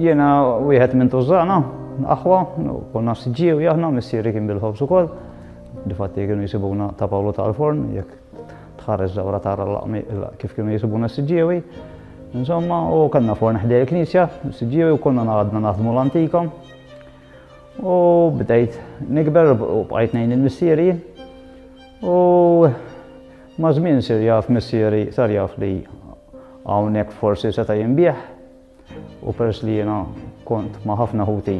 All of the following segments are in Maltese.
Jena wieħed minn tużana, aħwa, konna s-ġiju jahna, missiri kien bil-ħobs u koll. Difatti kienu jisibuna ta' Pawlu ta' l-forn, jek Tħares dawra tara l-laqmi kif kienu jisibuna s-siġġiewi. Insomma, u kellna forn ħdej il-knisja, s-siġġiewi u konna għadna naħdmu l-antika. U bdejt nikber u bqajt nejn il-missieri. U ma' żmien sir jaf missieri sar jaf li hawnhekk forsi seta' jinbieħ. U peress li jiena kont ma' ħafna ħuti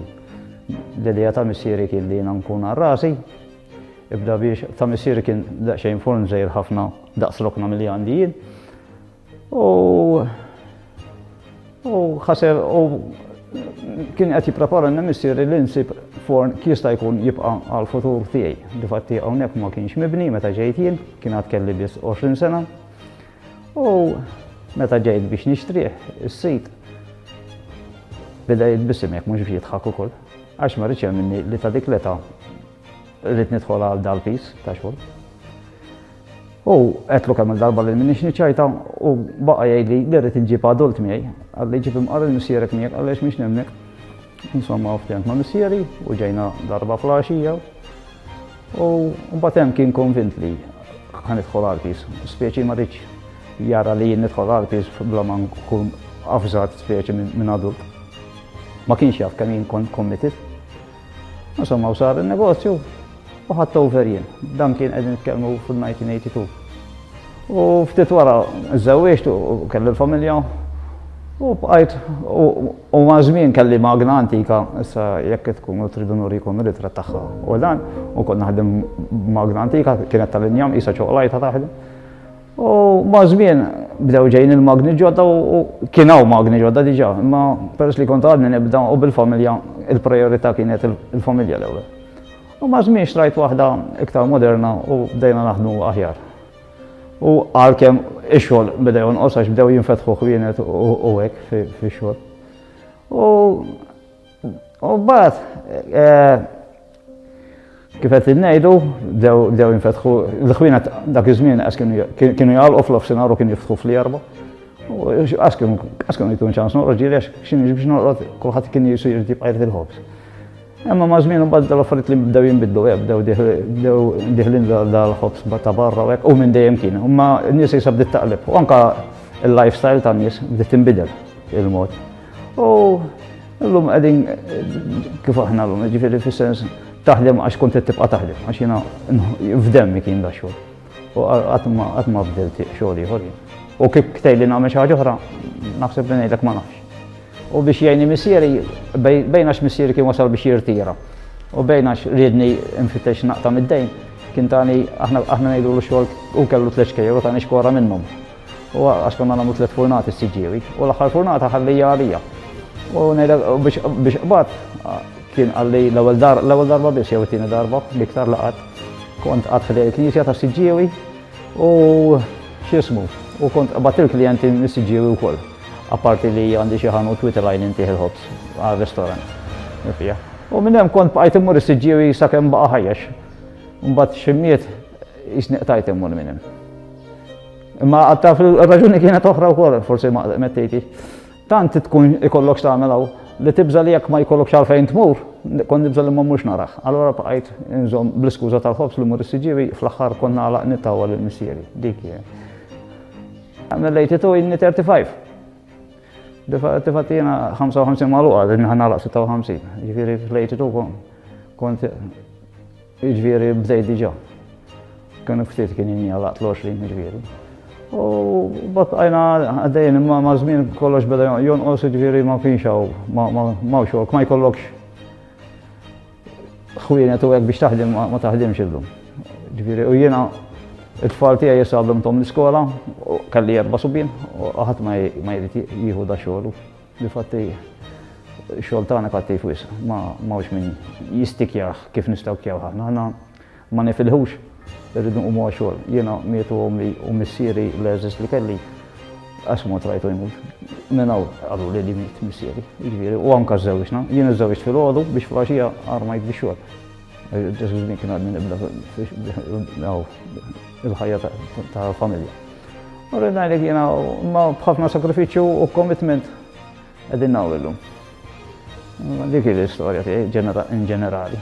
l-idea ta' missieri kien li jiena nkun għal rasi, ibda biex ta' missieri kien daqsxejn forn żejr ħafna daqs lokna milli għandi jien. U u ħaseb u kien qed jipprepara n missieri li nsib forn jista' jkun jibqa' għal futur tiegħi. Difatti hawnhekk ma kienx mibni meta ġejt jien, kien għad kelli biss 20 sena. U meta ġejt biex nixtrih, is-sid beda jitbissem jekk mhux biex jidħak ukoll. Għax ma rridx minni li ta' dik l-età rrid nidħol għal dal-pis ta' xogħol. U għetlu kemm il-darba li minni xniċajta u baqa jgħidli li rrid nġib adult miegħi, għalli ġib imqar il-missierek miegħek għaliex mhix nemmek. Insomma, ftent ma' missieri u ġejna darba fl-għaxija U mbagħad hemm kien konvint li ħa nidħol għarpis. Speċi ma rridx jara li jien nidħol għarpis bla ma nkun avżat speċi minn adult. Ma kienx jaf kemm jien kont committed. Insomma, u sar il-negozju u ħadd over jien. Dan kien qegħdin nitkellmu fil-1982. U ftit wara żżewwieġt u kelli l-familja u bqajt u maż-żmien kelli magna antika issa jekk tkunu tridu nurikom ir-ritratt tagħha u dan u kont naħdem magna antika kienet tal-injam qisha ċoqlajta taħdem. U maż-żmien bdew ġejjin il-magni ġodda u kien hawn magni ġodda diġà, imma peress li kont għadni nibda u bil-familja il-prijorità kienet il-familja l-ewwel. U ma' żmien xtrajt waħda iktar moderna u bdejna naħdmu aħjar. U għalkemm ix-xogħol beda jonqos għax bdew jinfetħu ħwienet u hekk fix-xogħol. U u mbagħad eh, kif qed ngħidu bdew jinfetħu l-ħwienet dak iż-żmien għax kienu jgħalqu fl-ofsinhar u kienu jiftħu fl-erba. U għax kienu jitun ċans noqgħod ġieli għax x'inhi biex noqgħod kulħadd kien jisir jibqa' il-ħobż. Imma ma' żmien imbagħad dal-affarijiet li bdew jinbidlu hekk, bdew bdew diħlin dal-ħobs ta' barra hekk u minn dejjem kien. Imma n-nies isa bdiet taqleb u anke l-lifestyle tan-nies bdiet tinbidel il-mod. U llum qegħdin kif aħna llum, jiġifieri fis-sens taħdem għax kont qed tibqa' taħdem għax jiena f'demmi kien da xogħol. U qatt ma bdilt xogħol ieħor. U kif ktejli nagħmel xi ħaġa oħra, naħseb li ngħidlek ma nafx. U biex jgħinni missieri, bejn għax missieri kien wasal biex jirtira. U bejn għax riedni nfittex naqta' mid-dejn, kien tani aħna aħna ngħidu l xogħol u kellu tliet xkejjer u tani xkora minnhom. U għax konna nagħmlu tliet furnati s-siġġiewi u l-aħħar furnata ħallija għalija. U ngħidlek biex biex qbad kien għalli l-ewwel dar l-ewwel darba biss jew it-tieni darba l-iktar laqat kont qatt fil knisja ta' siġġiewi u x'ismu u kont qbad il-klijenti mis-siġġiewi wkoll. Apparti li għandi xi ħanut witilgħin intih il-ħobż għar-ristorant. Fija. U minn hemm kont bqajt immur is-siġġiewi sakemm baqa' ħajjex. Mbagħad ximmiet jisni qtajt immur minn hemm. Imma għatta fil-raġuni kienet oħra wkoll, forsi ma mettejti. Tant tkun ikollok tagħmel hawn li tibża li jekk ma jkollok xalfejn tmur, kon nibża li ma mhux narax. Allora bqajt inżomm bl-iskuża tal-ħobs li mur is-siġġiewi fl-aħħar konna għalaq nittawa l-missieri. Dik I'm related to inni 35. Difatti jena 55 maluqa, din ħana laq 56. Ġviri related to kon. Kont ġviri bdejt diġa. Kien ftit kien jini għalaq 20 ġviri. U bat għajna għaddejn imma ma' zmin kollox beda jonqos ġviri ma' kienx għaw, ma' xork, ma' jkollokx Ħwienet u hekk biex taħdem ma taħdimx illum. Ġifieri u jiena it-tfal tiegħi issa għallimthom l-iskola, kelli erba' subien, u ħadd ma jrid jieħu da xogħol. Difatti xogħol tagħna kattiv wisq, ma mawx min jistikjah kif nistakjaw aħna. Ma nifilħux, irridu nqumu għax-xogħol. Jiena mietu ommi u missieri l-għeżież li kelli, qatt mod rajtu jmut. Minn hawn qaluli li miet missieri, jiġifieri, u anke żżewġna. Jien iżżewġt filgħodu biex flaxija armajt biex xogħol. Ġesu żmien kien għadni nibda il-ħajja ta' familja. U rridna li jiena ma bħafna sakrifiċċju u commitment qegħdin nagħmlu. Dik l-istorja tiegħi in ġenerali.